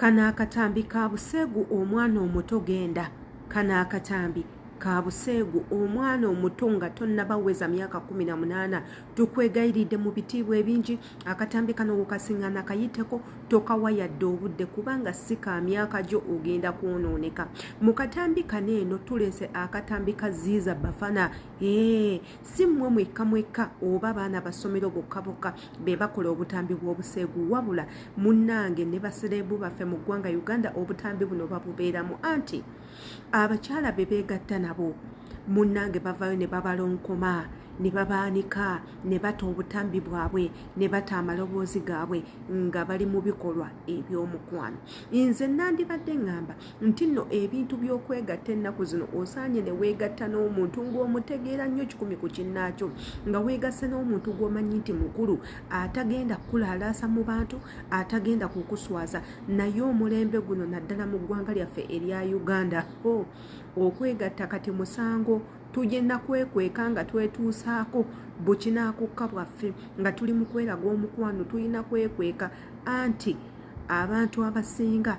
Kano akatambi ka buseegu omwana omuto genda. Kano akatambi ka buseegu omwana omuto nga tonnaba weza myaka kumi na munaana. Tukwegayiridde mu bitiibwa ebingi akatambi kano wokasingana kayiteko tokawa yadde obudde kubanga si ka myaka gyo ogenda kwonooneka. Mu katambi kano eno tuleese akatambi ka Ziiza Bafana. Eeh! si mmwe mwekka mwekka oba baana basomero bokka bokka be bakola obutambi bw'obuseegu wabula munnange ne basereebu baffe mu ggwanga uganda obutambi buno babubeeramu anti abakyala be beegatta nabo munnange bavaayo ne babalonkoma ne babaanika ne bata obutambi bwabwe ne bata amaloboozi gaabwe nga bali mu bikolwa eby'omukwano nze nandibadde ŋŋamba nti nno ebintu by'okwegatta ennaku zino osaanye ne weegatta n'omuntu ng'omutegeera nnyo kikumi ku kinnaakyo nga weegasse n'omuntu gw'omanyi nti mukulu atagenda kukulaalaasa mu bantu atagenda kukuswaza naye omulembe guno naddala mu ggwanga lyaffe erya uganda ho okwegatta kati musango tugenda kwekweka nga twetuusaako bukinaakukka bwaffe nga tuli mu kweraga omukwano tulina kwekweka anti abantu abasinga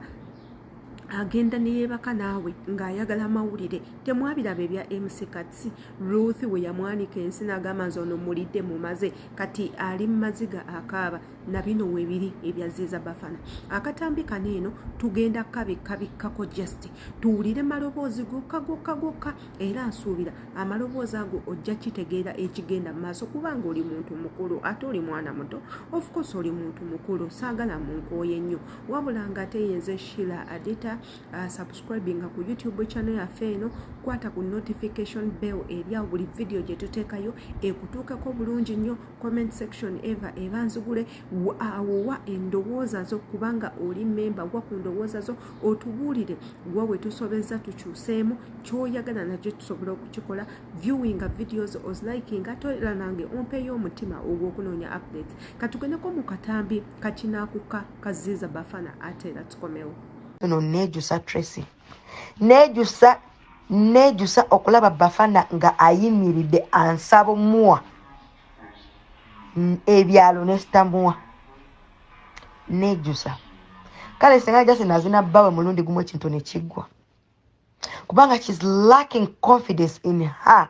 agenda neyebaka naawe ng'ayagala amawulire temwabiraba ebya mc katsi ruth we yamwanika ensi n'agamba nze ono mulidde mumaze kati ali mu maziga akaaba na bino webiri ebyaziiza bafana akatambi kano eno tugenda kabikkabikkako just tuwulire maloboozi gokka gokka gokka era nsuubira amaloboozi ago ojja kitegeera ekigenda mu maaso kubanga oli muntu mukulu ate oli mwana muto ofcourse oli muntu mukulu saagala munkooye nnyo wabula nga ate yenze shila adita uh, subscribinga ku youtube channel yaffe eno kwata ku notification bell eryawo buli vidiyo gye tuteekayo ekutuukako bulungi nnyo comment section eva eba nzigule awowa uh, endowooza zo kubanga oli memba wa ku ndowooza zo otubuulire wa we tusobezza tukyuseemu kyoyagala nakyo tusobola okukikola viewinga videos ozlikinga toera nange ompeyo omutima ogw'okunoonya updates katugendeko mu katambi kakinakuka kaziza bafana ate era tukomewo no nejusa tracy nejusa nejusa okulaba bafana nga ayimiridde ansabo muwa ebyalo nesitamua nejusa kale singa jasi nazina bbawe mulundi gumu ekintu nekiggwa kubanga shes lacking confidence in her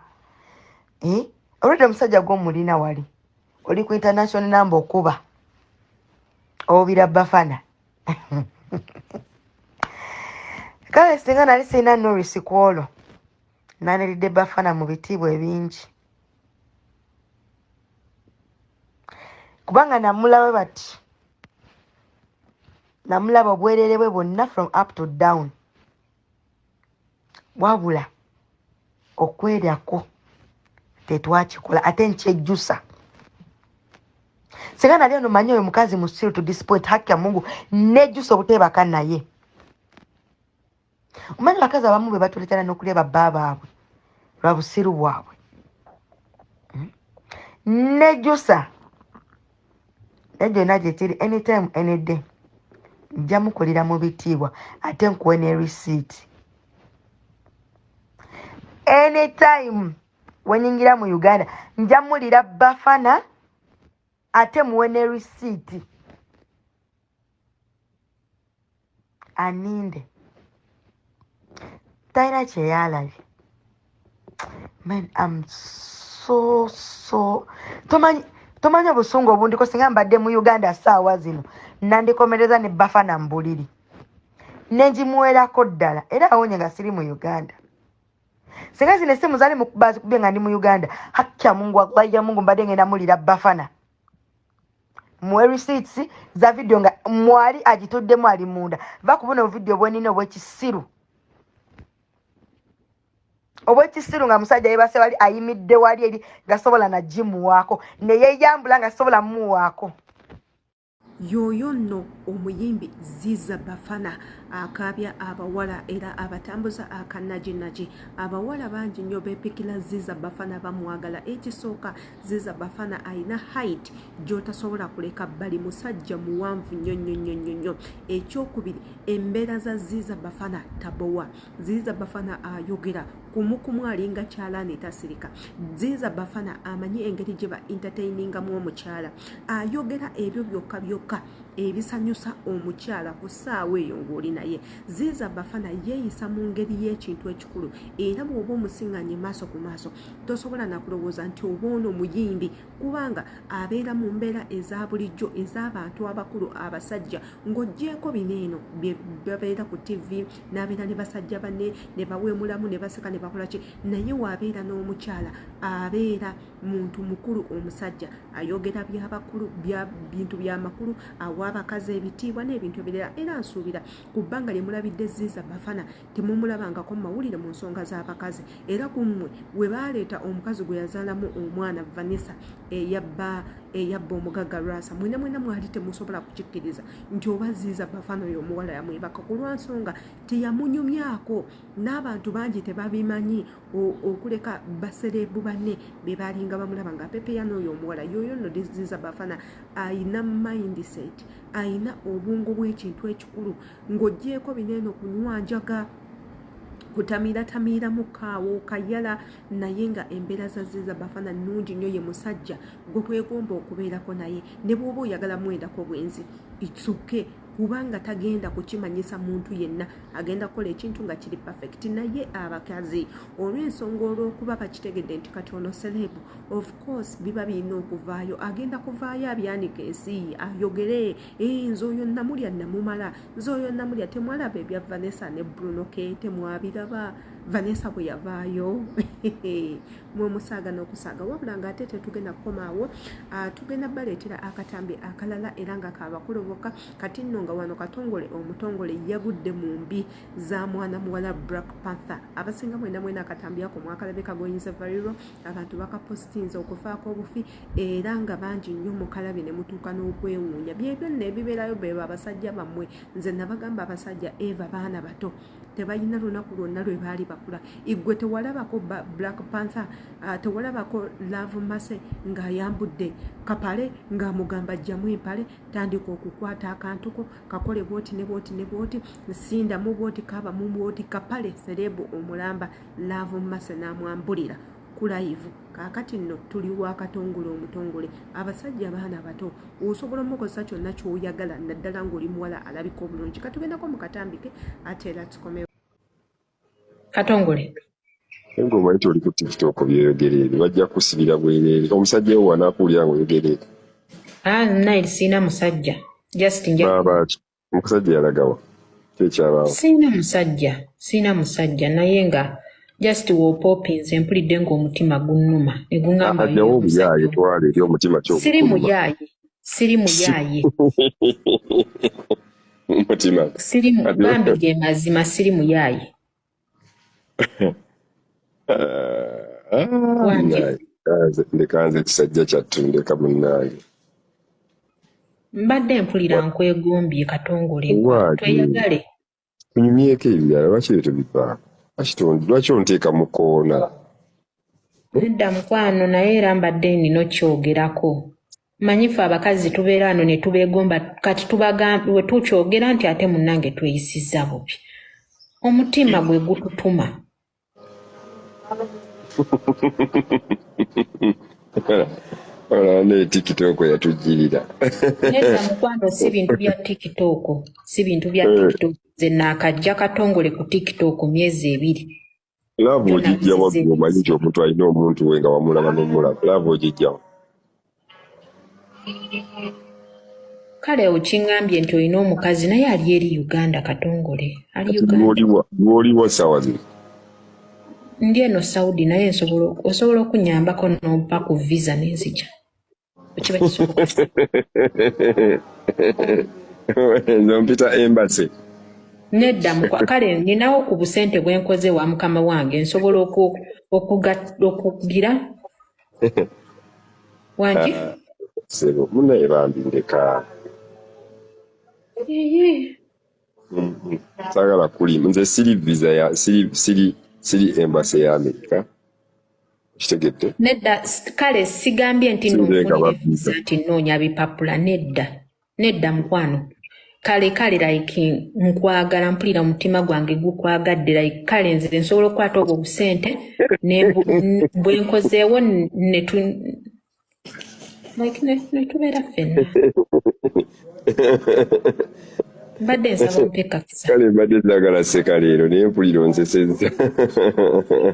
eh? olwedde omusajja gwomulina wali oli ku international number okuba obira bafana kale singa nali sirina norisi ku olwo naniridde bafana mu bitiibwa ebingi kubanga namulawe bati namulaba obwerere bwe bwonna from up to down wabula okwerako tetwakikola ate nkyejjusa singa nali ono manyi oyo mukazi musiru to disappoint haki ya mungu nejjusa obuteebaka naye omanyi bakazi abamu be batuletana n'okulya babba baabwe lwa busiru bwabwe hmm? nejjusa egenda gye kiri anytime any day nja mukulira mu bitiibwa ate nkuwe ne receipt anytime wenyingira mu uganda nja mulira bafana ate muwe ne receipt aninde talina kyeyalabye man am so so tomanyi tomanyi obusungu obundiko singa mbadde mu uganda saawa zino nandikomereza ne bafa na mbuliri nenjimuwerako ddala era awonye nga siri mu uganda singa zino esimu zali mukubazikubye nga ndi mu uganda hakya mungu wallahi ya mungu mbadde ngenda mulira bafana muwe receipts za video nga mwali agituddemu ali munda va kubuno video bwenina obwekisiru obwekisiru nga musajja yebase wali ayimidde wali eri nga sobola nagimuwaako neyeyambula nga sobola muwaako Yooyo nno omuyimbi Ziza Bafana akaabya abawala era abatambuza akanajinagi. Abawala bangi nnyo beepikira Ziza Bafana bamwagala. Ekisooka Ziza Bafana alina height gy'otasobola kuleka bbali, musajja muwanvu nnyo nnyo nnyo nnyo nnyo. Ekyokubiri embeera za Ziza Bafana tabowa. Ziza Bafana ayogera. kumukumu alinga kyalaani etasirika zinza bafana amanyi engeri gye ba entertainingamu omukyala ayogera ebyo byokka byokka ebisanyusa omukyala ku ssaawa eyo ng'oli naye ziiza bafana yeeyisa mu ngeri y'ekintu ekikulu era bw'oba omusiŋŋanye maaso ku maaso tosobola nakulowooza nti oba ono muyimbi kubanga abeera mu mbeera eza bulijjo ez'abantu abakulu abasajja ng'oggyeeko bino eno babeera ku tivi n'abeera ne basajja banne ne baweemulamu ne baseka ne bakola ki naye waabeera n'omukyala abeera muntu mukulu omusajja ayogera byabakulu bintu byamakulu awa abakazi ebitiibwa n'ebintu ebirala era nsuubira ku bbanga lye mulabidde ziiza bafana temumulabangako mu mawulire mu nsonga z'abakazi era ku mmwe we baaleeta omukazi gwe yazaalamu omwana vanessa eyabba eyabba omugagga lwasa mwena mwena mwali temusobola kukikkiriza nti oba ziiza bafana oyo omuwala yamwebaka ku lwa nsonga teyamunyumyako n'abantu bangi tebabimanyi okuleka basereebu banne be baalinga bamulaba nga pepeya n'oyo omuwala yoyo nno ziiza bafana ayina mindset ayina obwongo bw'ekintu ekikulu ng'oggyeeko bino eno kunywa njaga kutamiiratamiiramu kaawo kayala naye nga embeera zazze za bafana nnungi nnyo ye musajja gwe kwegomba okubeerako naye ne bw'oba oyagala mwendako bwenzi itsoke kubanga tagenda kukimanyisa muntu yenna agenda kukola ekintu nga kiri perfect naye abakazi olw'ensonga olw'okuba bakitegedde nti kati ono serebu of course biba birina okuvaayo agenda kuvaayo abyanika ensi ayogere ee nze oyo namulya namumala nze oyo namulya temwalaba ebya vanessa ne bruno ke temwabiraba vanessa bwe yavaayo mwe musaaga n'okusaaga wabula nga ate tetugenda kukomaawo ah, tugenda baleetera akatambi akalala era nga kabakulu bokka kati nno nga wano katongole omutongole yagudde mu mbi za mwana muwala black panther abasinga mwena mwena akatambi ako mwakalabeka goyinza variro abantu bakapositinza okufaako obufi era nga bangi nnyo mukalabi ne mutuuka n'okwewuunya byebyo nno ebibeerayo bebo abasajja bammwe nze nabagamba abasajja eva baana bato tebalina lunaku lwonna lwe baali bakula igwe tewalabako black panther uh, tewalabako love mase ng'ayambudde kapale ng'amugamba jjamu empale tandika okukwata akantuko kakole bwoti ne bwoti ne bwoti sindamu bwoti kaba mu bwoti kapale serebu omulamba love mase n'amwambulira kulayivu kaakati nno tuli wa katongole omutongole abasajja abaana abato osobola omukozesa kyonna kyoyagala naddala ng'oli muwala alabika obulungi katugendako mu katambike ate era tukomewo katongole nga omanyi toli ku tiktok byeyogere ebyo bajja kusibira bwereere omusajja wo wanakuwulira nga oyogere ebyo ah, nayiri sirina musajja just njabaaki omusajja yalagawa kyekyabaawo siina musajja siina musajja naye nga just wopopinze mpulidde ngaomutima gunnuma negungajawo obuyaaye twala eri omutima kyo siri muyaaye siri muyaaye mutima siri bambi ge mazima siri muyaaye Ah, wangi naye kanze ndekanze ekisajja kyattu ndeka munnange mbadde mpulira Wa- nkwegombye katongole gwe waaki tweyagale tunyumyeko ebirala lwaki ebyo tebivaako lwaki ton- lwaki onteeka mu koona Eh? nedda mukwano naye era mbadde nina okyogerako manyi ffe abakazi tubeera ano ne tubeegomba kati tubagamwe tukyogera nti ate munnange tweyisiza bubi omutima gwe gututuma olaba naye tikitooko yatujjirira nedda mukwano si bintu bya tikitooko si bintu bya tikitooko nze naakajja katongole ku tikitooko myezi ebiri laavu Byonna ogijja waggu nkusize. omanyi nti omuntu alina omuntu we nga wamulaba nomulaba laavu ogijjawa kale okiŋambye nti olina omukazi naye ali eri uganda katongole ali kati uganda lwoliwa lwoliwa saawa zino ndi eno saudi naye nsobola osobola okunyambako nompa ku visa nenzija zompita embase nedda kale ninawo ku busente bwenkoze wa mukama wange nsobola okugira wangi ah, sebo munaye bambi ndeka Mhm. saagala kulimu nze siri visa ya siri siri siri embassy ya amerika kitegedde nedda s- kale sigambye nti no siringa nfunire visa baviza nti nnoonya bipapula nedda nedda mukwano kale kale like nkwagala mpulira omutima gwange gukwagadde like kale nze nsobola okukwata obwo busente ne bu- n- bwe nkozeewo ne tu- netubeera ffenna mbadde nsaba mpekakisa kale mbadde zagala seka leero naye mpulira onseseza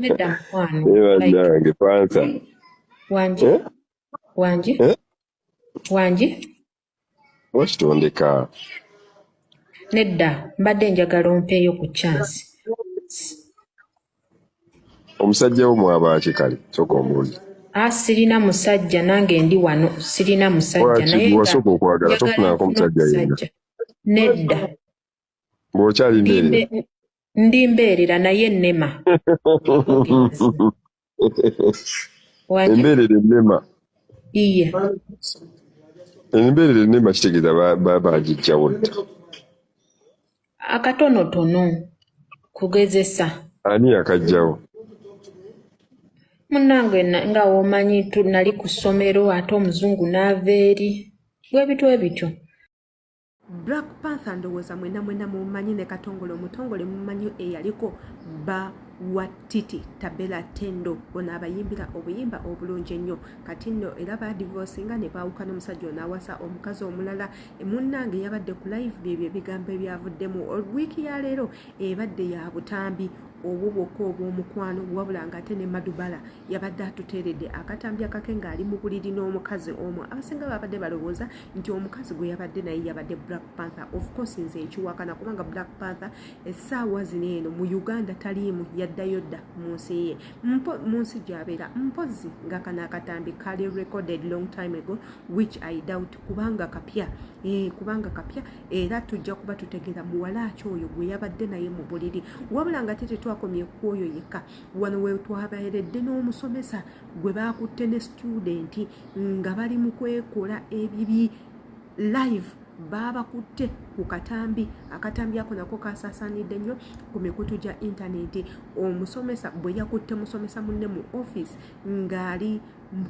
nedda mukwano banange pansa wangi eh? wangi eh? wangi wakitondeka nedda mbadde njagala ompeeyo ku chansi omusajja wo mwabaaki kale kyoka omundi a ah, sirina musajja nange ndi wano sirina musajja naye wasooka okwagala tofunako omusajja yenna nedda ng'okyali mbeerera ndi mbeerera naye nnema embeerera ennema iye embeerera ennema kitegeeza bagijjawo dda akatonotono kugezesa ani yakajjawo munnange nga womanyi tunali ku ssomero ate omuzungu n'ava eri bwebitw ebityo black panther ndowooza mwena mwena mumanyi ne katongole omutongole mumanyi eyaliko ba wa titi tabela tendo ono abayimbira obuyimba obulungi ennyo kati nno era badivosinga ne baawuka n'omusajja ono awasa omukazi omulala munnange yabadde ku live byebyo ebigambo ebyavuddemu wiiki ya leero ebadde ya butambi obwo bwokka obw'omukwano wabula ng'ate ne madubala yabadde atuteeredde akatambi akake ng'ali mu buliri n'omukazi omu abasinga babadde balowooza nti omukazi gwe yabadde naye yabadde black panther of course nze nkiwakana kubanga black panther essaawa zino eno mu uganda taliimu yaddayo dda mu nsi ye mu nsi gyabeera mpozi nga kana akatambi kali recorded long time ago which i doubt kubanga kapya eh, kubanga kapya era tujja kuba tutegeera muwala aki oyo gwe yabadde naye mu buliri wabula nga te tetwakomye ku oyo yekka wano wetwabeeredde n'omusomesa gwe baakutte ne situdenti nga bali mu kwekola ebibi live baabakutte ku katambi akatambi ako nako kasaasanidde nnyo ku mikutu gya intaneti omusomesa bwe yakutte musomesa munne mu ofiisi ng'ali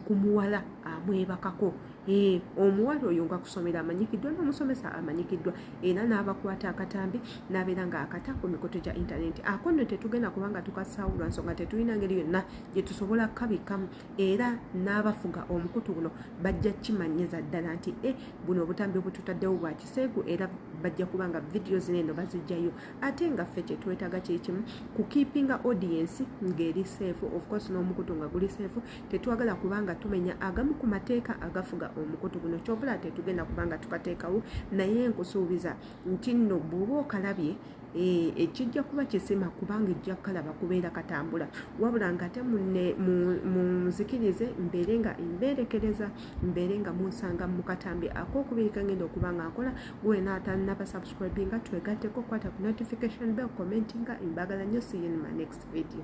ku muwala amwebakako Eh, omuwala oyo nga kusomera amanyikiddwa n'omusomesa amanyikiddwa era n'abakwata akatambi n'abeera nga akata ku mikutu gya intaneti ako nno tetugenda kubanga tukasaawo lwa nsonga tetulina ngeri yonna gye tusobola kukabikkamu era n'abafuga omukutu guno bajja kimanyiza ddala nti e buno obutambi obututaddewo bwa kiseegu era bajja kuba nga vidiyo zino eno bazijjayo ate nga ffe kye twetaaga kiri kimu ku kiipinga audiensi ng'eri seefu ofcourse n'omukutu nga guli seefu tetwagala kubanga tumenya agamu ku mateeka agafuga omukutu guno kyovula tetugenda kubanga tukateekawo naye nkusuubiza nti nno bw'oba okalabye eh, ekijja kuba kisima kubanga ejja kukalaba kubeera katambula wabula ngaate munzikirize mbeere nga embeerekereza mbeere nga munsanga mukatambi akokubiri kangenda okuba nga nkola gwenatanabasubscribinga twegatteko kwata ku notification bell commentinga embagala nyo siyinma next video